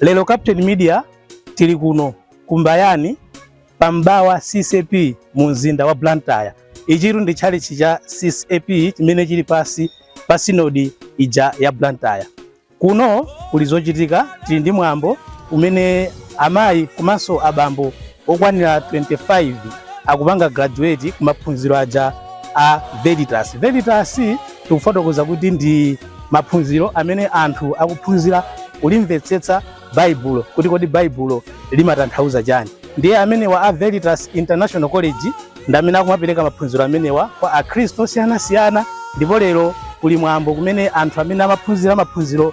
Lero Captain Media tili kuno kumbayani pa Mbawa CCAP mu mzinda wa Blantyre. Ichitu ndi tchalitchi cha CCAP chimene chili pansi pa sinodi ija ya Blantyre. Kuno kuli zochitika tili ndi mwambo umene amayi komanso abambo okwanira 25 akupanga graduate kumaphunziro aja a Veritas. Veritas tikufotokoza kuti ndi maphunziro amene anthu akuphunzira kulimvetsetsa Baibulo kuti kodi Baibulo limatanthauza chani. Ndiye amenewa a Veritas International College ndi amene akumapereka maphunziro amenewa kwa Akhristu osiyanasiyana ndipo lero kuli mwambo kumene anthu amene amaphunzira maphunziro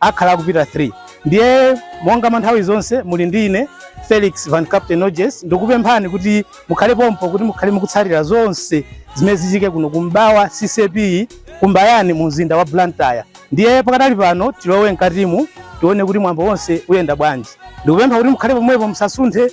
akhala akupita 3 ndiye monga mwa nthawi zonse muli ndi ine felix van captain noges ndikupemphani kuti mukhale pompo kuti mukhale mukutsatira zonse zimene zichike kuno kumbawa ccap kumbayani mu mzinda wa blantyre ndiye pakadali pano tilowe mkatimu tione kuti mwambo wonse uyenda bwanji ndikupempha kuti mukhale pomwepo musasunthe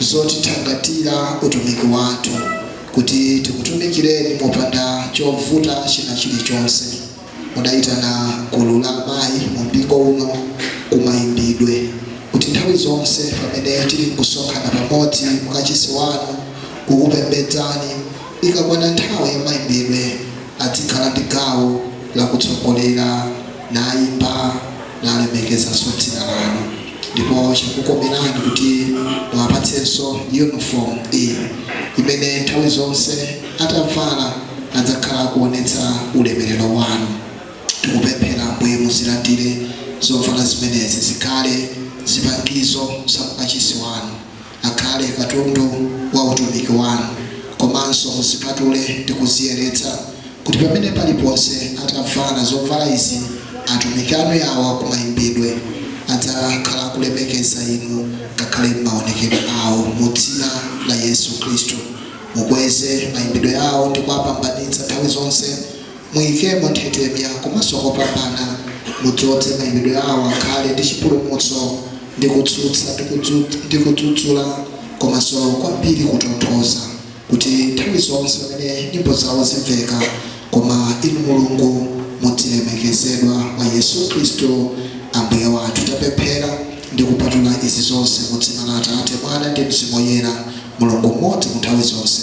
zotithangatira utumiki wathu kuti tikutumikireni mopanda chovuta china chilichonse. Mudayitana gulu la amayi mu mpingo uno ku mayimbidwe kuti nthawi zonse pamene tili nkusonkhana pamodzi mu kachisi wanu kukupembedzani, ikakwana nthawi ya mayimbidwe adzikhala ndi gawo lakutsogolera. nayimba, nalemekezanso dzina lanu. Ndipo chakukomerani kuti muwapatsenso yunifomu iyi imene nthawi zonse atavala adzakhala akuonetsa ulemerero wanu. Tikupemphera Ambuye muzilandire zovala zimenezi zikhale zipangizo za ukachisi wanu. akhale katundu wa utumiki wanu, komanso muzipatule ndi kuziyeretsa, kuti pamene paliponse atavala zovala izi atumiki anu yawa ku mayimbidwe, adzakhala akulemekeza inu ngakhale m'maonekedwe awo, mu dzina la Yesu Khristu. Mukweze mayimbidwe awo ndi kuwapambanitsa nthawi zonse. Muikemo nthetemya komanso kopambana, mudzodze mayimbidwe awo akhale ndi chipulumutso, ndi kutsutsa ndi kudzudzula, komanso kwambiri kutonthoza, kuti nthawi zonse pamene nyimbo zawo zimveka, koma Inu Mulungu mudzilemekezedwa mwa Yesu Khristu Ambuye wathu. Tapemphera ndi kupatula izi zonse mu dzina la Atate, Mwana, ndi Mzimu Woyera, Mulungu m'modzi munthawi zonse.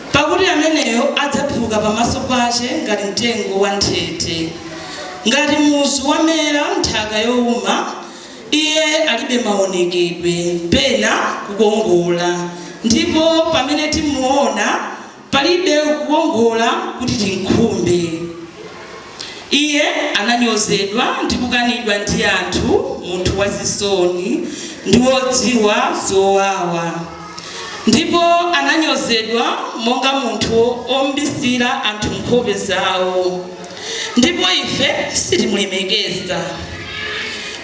Pakuti ameneyo adzaphuka pamaso pache ngati mtengo wanthete, ngati muzu wamera m'nthaka youma, iye alibe maonekedwe, pena kukongola, ndipo pamene timuona, palibe kukongola kuti timkhumbe. Iye ananyozedwa ndi kukanidwa ndi anthu, munthu wazisoni ndi wodziwa zowawa, ndipo ananyozedwa monga munthu ombisira anthu nkhope zawo, ndipo ife sitimulemekeza.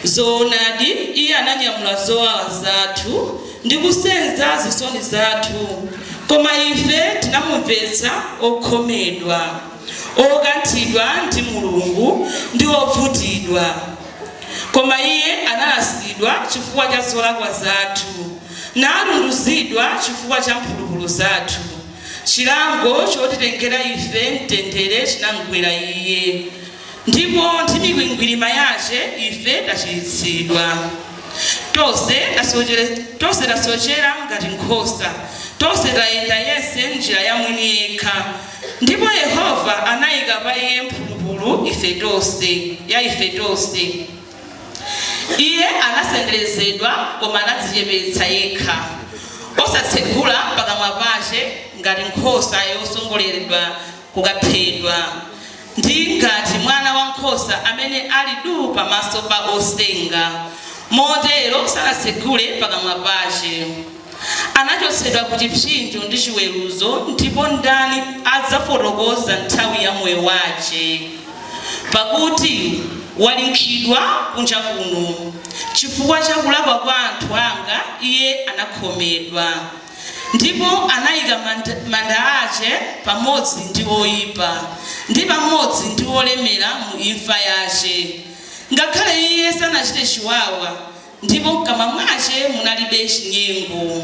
Zoonadi, Iye ananyamula zowawa zathu ndi kusenza zisoni zathu, koma ife tinamumvetsa okhomedwa. okanthidwa ndi Mulungu ndi ovutidwa, koma Iye analasidwa chifukwa cha zolakwa zathu, natunduzidwa chifukwa cha mphulupulu zathu, chilango chotitengera ife mtendere chinamgwera Iye, ndipo ndi mikwingwirima yace ife tachiritsidwa. Tonse, tonse tasocera ngati nkhosa, tonse tayenda yense m'njira ya mwini yekha, Ndipo Yehova anaika pa iye mphulupulu ife tonse, ya ife tonse. Iye anasenderezedwa, koma anadzicepetsa yekha, osatsegula pakamwa pace, ngati nkhosa yotsogoleredwa kukaphedwa, ndi ngati mwana wa nkhosa amene ali du pamaso pa osenga, motero sanatsegule pakamwa pace. anachotsedwa ku chipsinjo ndi chiweruzo, ndipo ndani adzafotokoza nthawi ya moyo wace? Pakuti walinkhidwa kunja kuno, chifukwa cha kulakwa kwa anthu anga iye anakhomedwa, ndipo anaika manda, manda ace pamodzi ndi oipa, ndi pamodzi ndi olemera mu imfa yace, ngakhale iye sanachite chiwawa, Ndipo m'kamwa mwace munalibe cinyengo,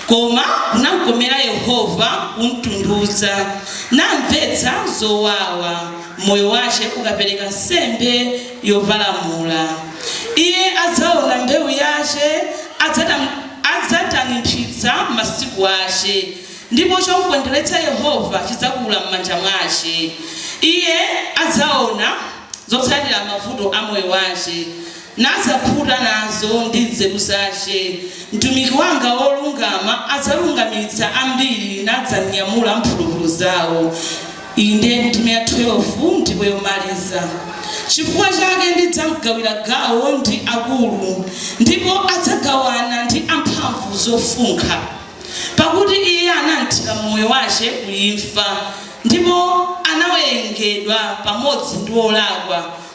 koma kunamkomera Yehova kumtundudza, namvetsa zowawa, moyo wace ukapereka nsembe yoparamula, Iye adzaona mbeu yace, adzatanimphitsa masiku ace, ndipo comkondweretsa Yehova cidzakula m'manja mwace, Iye adzaona zotsatira mavuto a moyo wace. nadzakhuta nazo ndi nzeru zace, mtumiki wanga wolungama adzalungamitsa ambiri, nadzanyamula mphulupulu zao, inde, ndime ya 12, ndipo yomariza, Cifukwa cake ndidzamgawira gawo ndi akuru, ndipo adzagawana ndi amphamvu zofunkha, pakuti iye anamthira moyo wace kuimfa, ndipo anawerengedwa pamodzi ndi olakwa.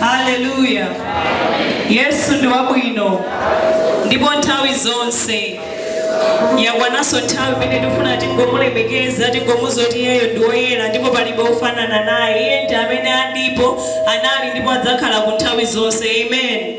haleluya yesu ndi wabwino ndipo nthawi zonse yakwananso nthawi imene tikufuna tingomulemekeza tingomuza kuti iyeyo ndi woyera ndipo palibe ofanana naye iye ndi amene alipo anali ndipo adzakhala ku nthawi zonse amen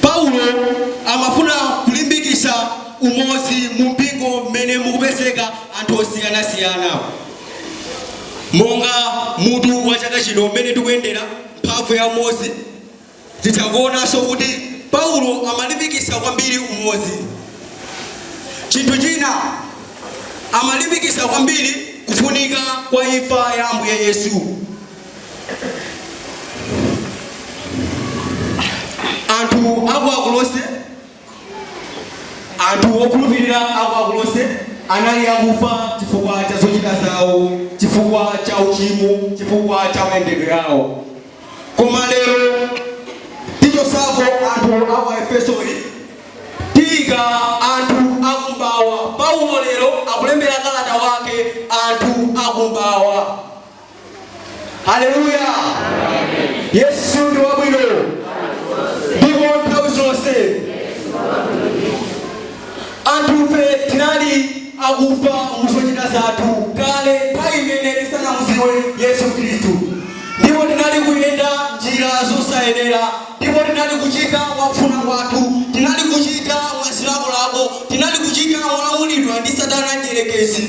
paulo amafuna kulimbikisa umozi mu mpingo mmene mukupezeka anthu osiyanasiyana monga mutu wa chaka chino umene tikuyendera mphamvu ya umozi Titha kuonanso kuti Paulo amalimbikitsa kwambiri umodzi. Chinthu china, amalimbikitsa kwambiri kufunika kwa imfa ya Ambuye Yesu. Anthu a ku Akolose Anthu okhulupirira a ku Akolose anali akufa chifukwa cha zochita zawo, chifukwa cha uchimo, chifukwa cha mayendedwe awo. Koma lero tichotsako anthu a ku Aefesoli, tiika anthu akum'mawa. Paulo lero akulembera kalata wake anthu akum'mawa. haleluya yesu ndi wabwino ndipo nthawi zonse anthufe tinali akufa muzochita zathu kale nthawi imene tisanamuziwe yesu khristu ndipo tinali kuyenda njira zosayenera ndipo tinali kuchita mwakufuna kwathu tinali kuchita mwazilakolako tinali kuchita molamulidwa ndi satana mdyerekezi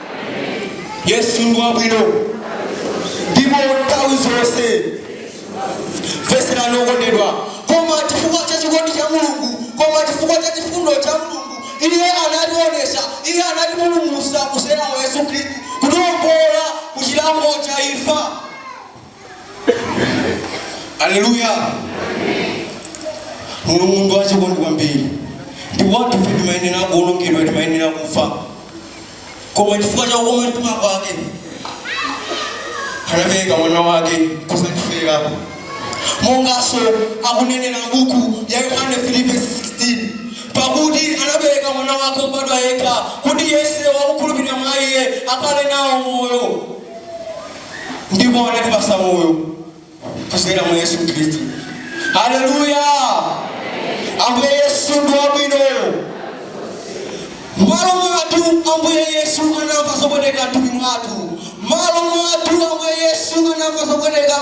yesu ndi wabwino ndipo nthawi zonse okondedwa koma chifukwa cha chikondi cha mulungu koma chifukwa cha chifundo cha mulungu iye anatiwonesa iye anatipulumusa kuzera mwa yesu khristu kutiwombola ku chilango cha imfa aleluya mulungu ndi wachikondi kwambiri ndipo anthu ife timayenera kuwonongedwa timayenera kufa koma chifukwa cha kukoma mtima kwake anapereka mwana wake kuzatifera monganso akunenera buku la yohane 3:16 pakuti anapereka mwana wake wobadwa yekha kuti yense wakukhulupirira mwa iye akhale nawo moyo ndipo anatipasa moyo kuzera mwa yesu khristu haleluya ambuye yesu ndi wabwino malo mwathu ambuye yesu anamva zopweteka mthupi mwake malo mwathu ambuye yesu anamva zopweteka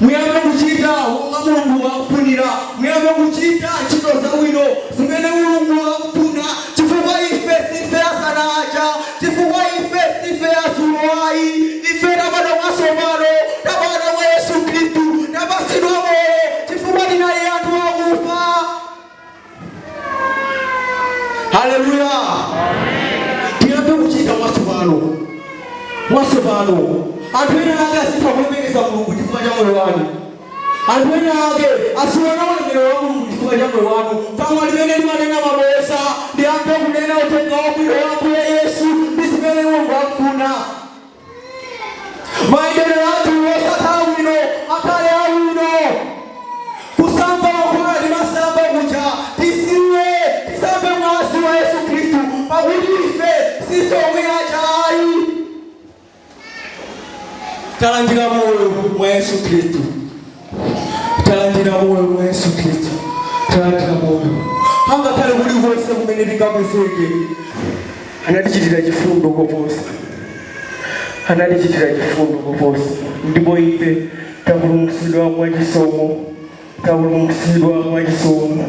Muyambe kuchita monga Mulungu akufunira. Muyambe kuchita ntchito zabwino zimene Mulungu akufuna, chifukwa ife siife azana aja, chifukwa ife siife adzulo ayi. Ife tabadwa mwatsopano, tabadwa mwa Yesu Khristu, tapatsidwa moyo chifukwa tinali anthu akufa. haleluya tiyambe kuchita mwatsopano mwatsopano anthu ena ake azitha kulemekeza mulungu chifukwa cha moyo wanu anthu ena ake aziona ulemerero wa mulungu chifukwa cha moyo wanu pamwa limene limanena mabodza liyambe kunena uthenga wabwino wa ambuye yesu ndi zimene mulungu akufuna mayendedwe athu osakhala bwino akhale abwino kusamba makhumi ati masamba kuja tisiye tisambe mwazi wa yesu khristu pakuti ife si omwe aja ayi talandira moyo mwa yesu khristu talandira moyo mwa yesu khristu talandira moyo angakhale kuli konse kumene tingapezeke anatichitira chifundo koposa anatichitira chifundo koposa ndipo ife tapulumutsidwa mwa chisomo tapulumutsidwa mwa chisomo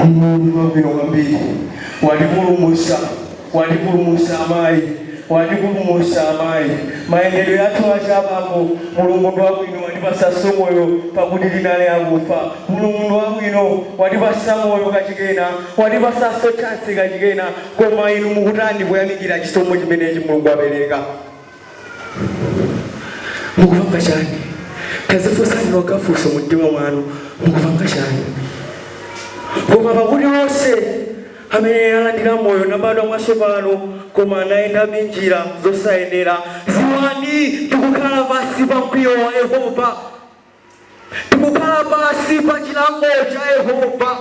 mulungu wabwino kwambiri watipulumutsa Watipulumutsa amayi, Watipulumutsa amayi, Mayendedwe athu aja abambo, Mulungu ndi wabwino, Watipatsanso moyo, Pakuti tinali akufa. Mulungu ndi wabwino, Watipatsa moyo kachikenanso, Watipatsanso chansi kachikena. Koma inu mukutani poyamikira chisomo chimenechi Mulungu wapereka? mukupanga chani tadzifunsani nokha funso mu mtima mwanu mukupanga chani koma pakuti onse amene alandira moyo nabadwa mwatsopano koma nayenda m'njira zosayenera dziwani tikukhala pansi pa mkwiyo wa yehova tikukhala pansi pa chilango cha yehova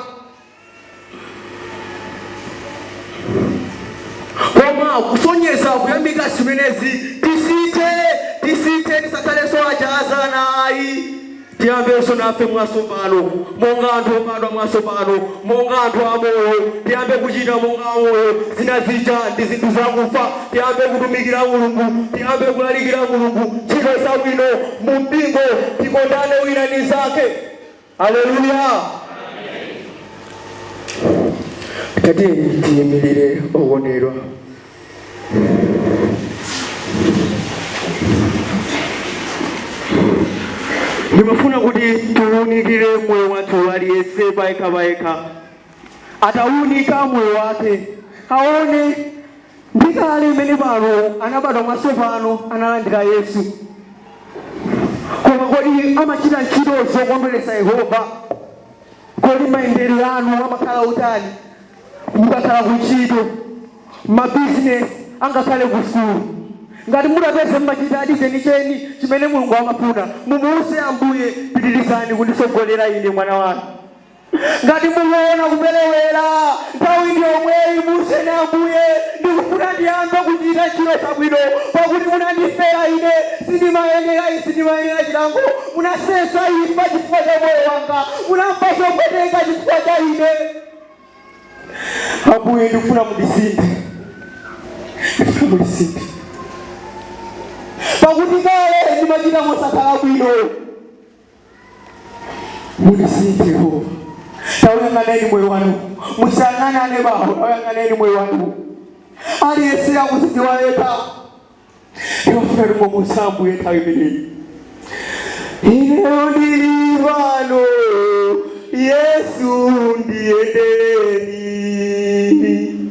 koma kusonyeza kuyamika zimenezi tisinthe tisinthe tisakhalenso aja azana ayi tiyambenso nafe mwatsopano monga anthu obadwa mwatsopano monga anthu amoyo tiyambe kuchita monga amoyo zina zija ndi zinthu zakufa tiyambe kutumikira mulungu tiyambe kulalikira mulungu ntchito zabwino mu mpingo tikondane wina ndi mnzake Aleluya! Tatiyeni tiyimirire okondedwa. Ndimafuna kuti tiwunikire moyo wathu aliyense payekha payekha, atawunika moyo wake aone Ndi kale amene pano anabadwa mwatsopano analandira Yesu. Koma kodi amachita ntchito zokondweretsa Yehova? Kodi mayendedwe anu amakhala otani mukakhala kuntchito, mabizinesi, angakhale kusukulu? Ngati mutapeza mumachitadi chenicheni chimene Mulungu amafuna, mumuuze Ambuye, Pitirizani kunditsogolera ine, mwana wanu. Ngati mukuona kuperewera, nthawi ndi yomweyi muuzeni Ambuye, ndikufuna ndiyambe kuchita ntchito zabwino, pakuti munandifera ine, sindimayenera izi, ndimayenera chilango, munasenza imfa chifukwa cha moyo wanga, munamva zopweteka chifukwa cha ine. Ambuye, ndikufuna mundisinthe, ndikufuna mundisinthe, pakuti kale ndimachita mosakhala bwino. mundisinthe yehova tauyang'aneni moyo wanu musayang'ane anebawo tauyang'aneni moyo wanu aliyense akuzidziwa yekha yofuna muwauze Ambuye nthawi imeneyi ineyo ndili pano yesu ndiyendereni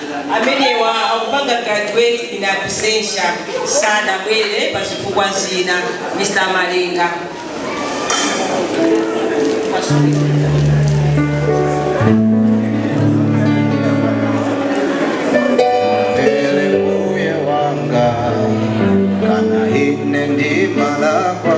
amenewa akupanga graduate in absentia sanabwere pa zifukwa zina Mr Malinga Ele mbuye wanga ngana ine ndimalakwa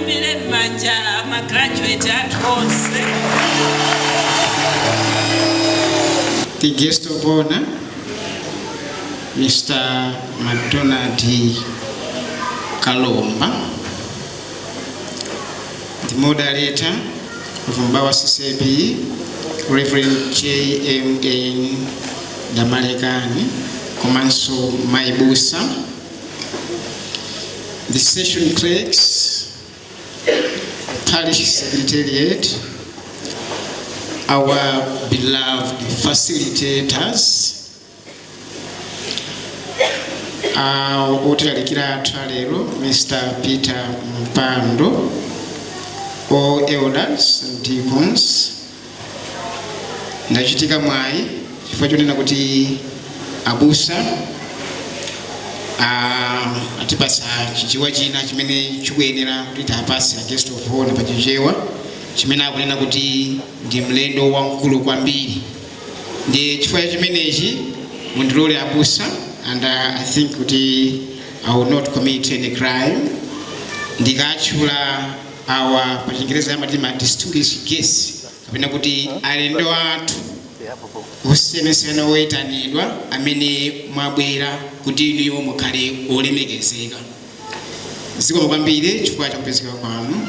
Tiwaimbire mmanja ma graduate athu onse. the guest of honor, Mr. McDonald Kalomba, the moderator of Mbawa CCB, Reverend J.M.N. Damalekani, komanso Maibusa, the session clerks, parish secretariat, our beloved facilitators, uh, otilalikira athu alero mr peter mpando all elders and deacons ndachitika mwayi chifukwa chonena kuti abusa ah, atipasa chichewa china chimene chikuyenera kuti tiapatse a guest of honor pa chichewa chimene akunena kuti ndi mlendo wamkulu kwambiri ndi chifukwa chimenechi mundilole abusa and uh, i think kuti i will not commit any crime ndikatchula awa pa chingerezi amati ma distinguished guests kapena kuti alendo athu osiyanasiyana oyitanidwa amene mwabwera kuti inuyo mukhale olemekezeka zikomo kwambiri chifukwa chakupezeka kwanu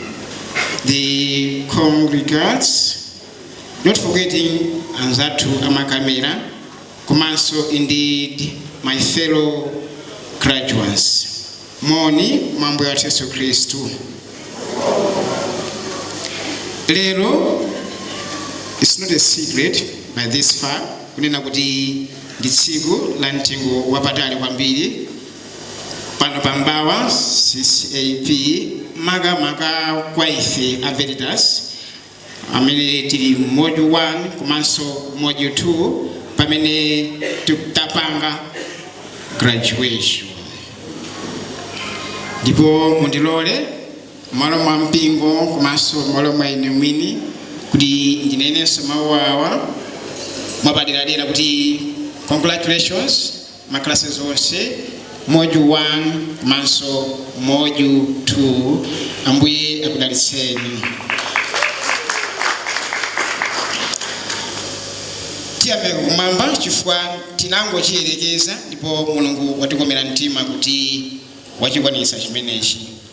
the congregants not forgetting anzathu amakamera komanso indeed my fellow graduates moni mwa ambuye wathu yesu khristu lero it's not a secret by this far kunena kuti ndi tsiku la mtengo wapatali kwambiri pano pa mbawa ccap makamaka kwa ife a veritas amene tili module 1 komanso module 2 pamene tikutapanga graduation ndipo mundilole mmalo mwa mpingo komanso mmalo mwa ine mwini kuti ndinenenso mawu awa mwapaderadera kuti congratulations makalasi onse module 1 komanso module 2 ambuye akudalitseni tiyang'ane kumwamba chifukwa tinangochiyerekeza ndipo mulungu watikomera mtima kuti wachikwanitsa chimenechi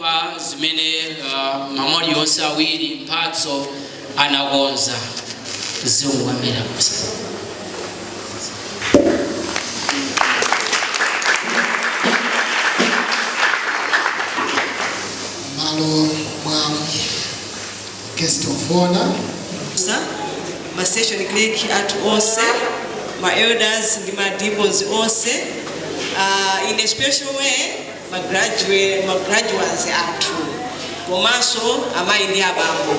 pa zimene uh, mamoli onse awiri mphatso anakonza ziwamira kusa mmalo mwa guest of honor ma session clerk athu onse ma elders ndi ma deacons onse uh, in a special way ma graduate, ma graduands athu komanso amayi ndi abambo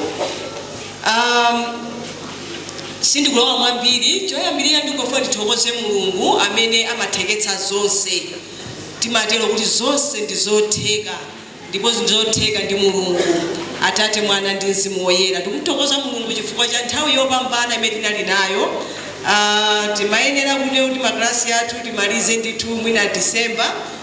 um, sindikulowa mwambiri choyambirira ndingofuna ndithokoze mulungu amene amatheketsa zonse timatero kuti zonse ndi zotheka ndipo zonse ndi zotheka ndi mulungu atate mwana ndi mzimu woyera tikuthokoza mulungu chifukwa cha nthawi yopambana imene tinali nayo Ah, timayenera kuti kuti makalasi athu timalize ndithu mwina disemba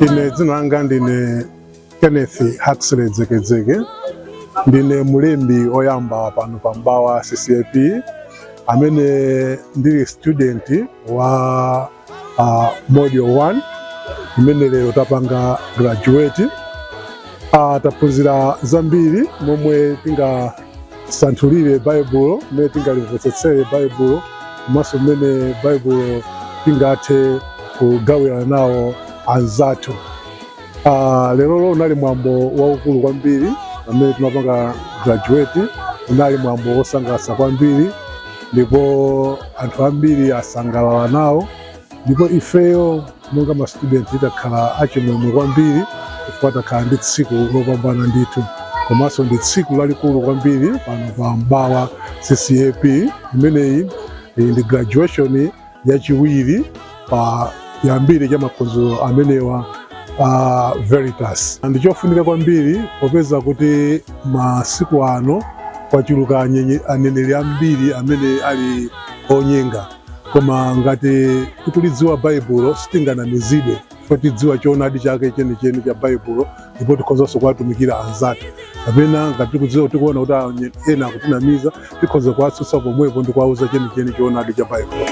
Ine dzina langa ndine Kenneth Huxley Dzekedzeke, ndine mlembi oyamba pano pa M'bawa CCAP amene ndili student wa uh, module 1 imene lero tapanga graduate uh, taphunzira zambiri momwe tingasanthulire baibulo mmene tingalimvetsetsere baibulo komanso mmene baibulo tingathe kugawirana nawo anzathu Ah, lerolo unali mwambo waukulu kwambiri pamene timapanga graduate unali mwambo wosangalatsa kwambiri ndipo anthu ambiri asangalala nawo ndipo ifeyo monga ma student takhala achimwemwe kwambiri chifukwa takhala ndi tsiku lopambana ndithu komanso ndi tsiku lalikulu kwambiri pano pa M'bawa CCAP imeneyi iyi ndi graduation yachiwiri pa chiyambire cha maphunziro amenewa a Veritas. Ndi chofunika kwambiri popeza kuti masiku ano kwachuluka aneneri ambiri amene ali onyenga, koma ngati tikulidziwa Baibulo sitinganamizidwe. chifukwa tidziwa choonadi chake chenicheni cha Baibulo ndipo tikhozanso kuwatumikira anzathu kapena ngati tikuona kuti anye- ena akutinamiza tikhoza kuwatsutsa pomwepo ndi kuwauza chenicheni choonadi cha Baibulo.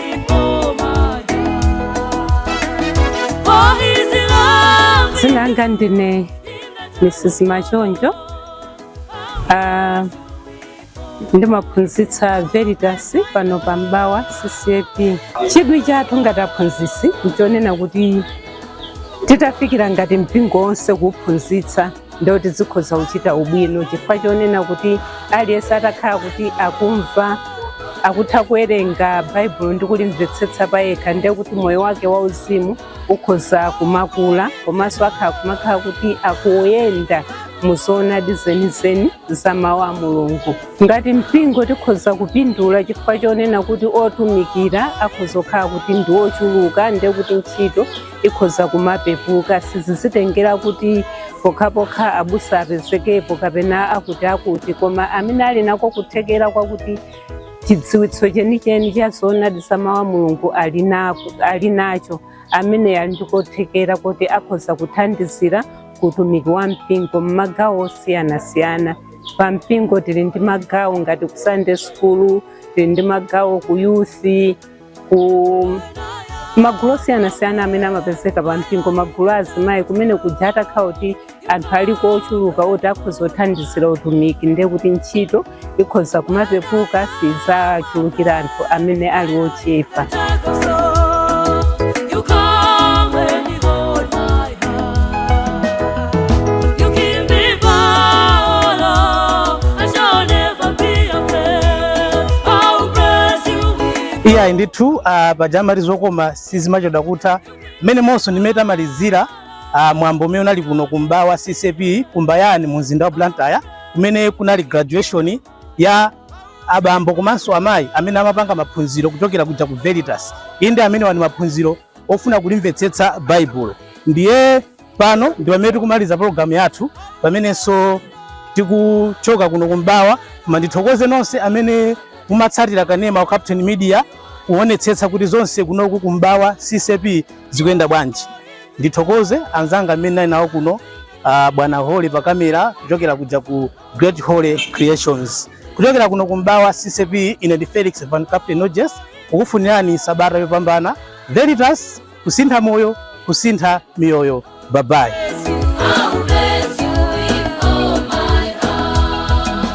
dzina langa ndine mrs machonjo ndimaphunzitsa veritas pano pa mbawa ccap chidwi chathu ngati aphunzitsi nchonena kuti titafikira ngati mpingo wonse kuwuphunzitsa ndiye kuti zikhoza kuchita ubwino chifukwa chonena kuti aliyense atakhala kuti akumva akutha kuwerenga baibulo ndi kulimvetsetsa payekha ndiye kuti moyo wake wauzimu ukhoza kumakula komanso akhala kumakhala kuti akuyenda muzoonadi zenizeni za mawu a Mulungu. Ngati mpingo tikhoza kupindula chifukwa chonena kuti otumikira akhoza kukhala kuti ndi ochuluka ndiye kuti ntchito ikhoza kumapepuka sizizitengera kuti pokhapokha abusa apezekepo kapena akuti akuti koma amene ali nako kuthekera kwakuti chidziwitso chenicheni cha zoonadi za mawu a mulungu ali nacho amene ali ndi kuthekera kuti akhoza kuthandizira ku utumiki wa mpingo m'magawo osiyanasiyana pa mpingo tili ndi magawo ngati ku sunday school tili ndi magawo ku youth ku magulu osiyanasiyana amene amapezeka pa mpingo magulu a azimayi kumene kuja atakhala kuti anthu aliko ochuluka oti akhoza kuthandizira utumiki ndiye kuti ntchito ikhoza kumapepuka sizachulukira anthu amene ali ochepa iyayi ndithu ah, paja amati zokoma sizimachedwa kutha mmene monso ndimene tamalizira ah, mwambo umene unali kuno ku mbawa ccap ku mbayani mu mzinda wa blantyre kumene kunali graduation ya abambo komanso amayi amene amapanga maphunziro kuchokera kuja ku Veritas. Inde amenewa ndi maphunziro ofuna kulimvetsetsa Baibulo. Ndiye pano ndi pamene tikumaliza programu yathu pamenenso tikuchoka kuno ku mbawa koma ndithokoze nonse amene mumatsatira kanema wa Captain Media kuonetsetsa kuti zonse kunoku ku mbawa CCAP zikuyenda bwanji. Ndithokoze anzanga amene ndinali nawo kuno uh, bwana Hole pa kamera kuchokera kuja ku Great Hole Creations kuchokera kuno ku Mbawa CCAP ine ndi Felix Van Captain Nojes kukufunirani sabata yopambana Veritas kusintha moyo kusintha miyoyo babayi I'll bless you with all my heart.